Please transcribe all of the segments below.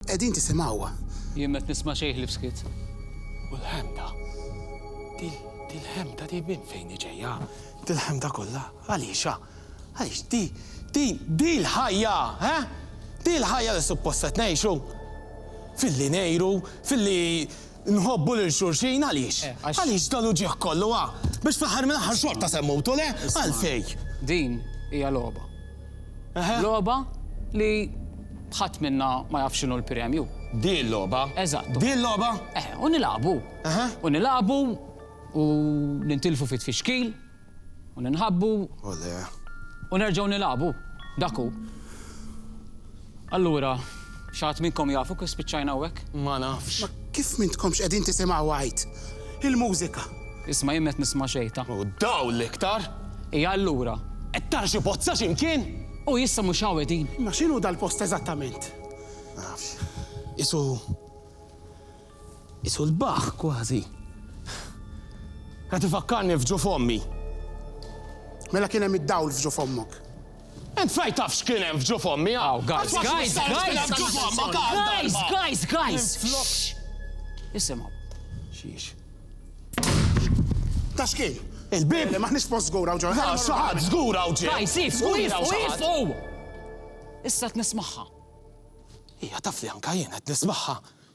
Qegħdin tisimgħuha. Jien m'qed nisma' xejn ħlief skiet. U l-ħemda? Dil-ħemda di minn fejn hi ġejja? Dil-ħemda kollha għaliexha? Għaliex di, din, dil-ħajja, ha? Dil-ħajja li suppost qed ngħixu? Filli ngħiru, filli. Nħobbu lil xulxin għaliex? Għaliex dan uġigħ kollu, ha? Biex fl-aħħar mill-aħħar xorta se mmutu, le? Għalfejn? Din hija logħba. Logħba li ħadd minna ma jaf x'inhu l-premju. Din logħba? Eżatt. Din logħba? Eħe, u nilagħbu. U nilagħbu u nintilfu fit-tfixkil. U ninħabbu. O le. U nerġgħu nilagħbu. Dak hu. Allura, xi ħadd minnkom jafu kif spiċċajna hawnhekk? Ma nafx. Ma kif m'intkomx qegħdin tisimgħu għajt? Il-mużika. Isma' jien m'qed nisma' xejn ta'. U d-dawl iktar. Hija allura. Qed tara xi bozza xi mkien? U issa mhux hawn qegħdin. Imma x'inhu dal-post eżattament? Ma nafx. Qisu. Qisu sbaħ, kważi. Qed ifakkarni f'ġuf ommi. Mela kien hemm id-dawl f'ġuf ommok. Int fejn taf x'kien hemm f'ġuf ommi, ha? Aw, guys, guys, guys! Guys, guys, guys! Flok. Isimgħu. Xiex. Ta' x'kien? Il-bib! Maħniex post żgur hawn ġo. Għaw xi ħadd żgur hawn ġie. Guys, ifqu, ifqu, ifqu! Issa qed nismagħha. Hija taf li anke jien qed nismagħha.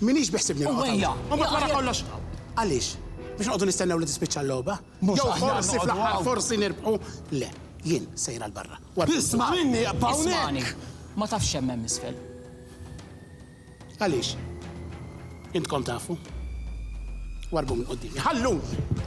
M'iniex biħsibni noqgħod hawn. Uwwejja! U mbagħad wara kollox, għaliex? Biex noqogħdu nistennew li tispiċċa l-logħba? Mhux aħjar noqogħdu hawn. Jew forsi fl-aħħar forsi nirbħu? Le, jien sejra 'l barra. Isma' minni, ibqa' hawnhekk! Ismagħni, ma tafx x'hemm hemm isfel. Għaliex? Intkom tafu? Warrbu minn quddiemi. Ħalluni!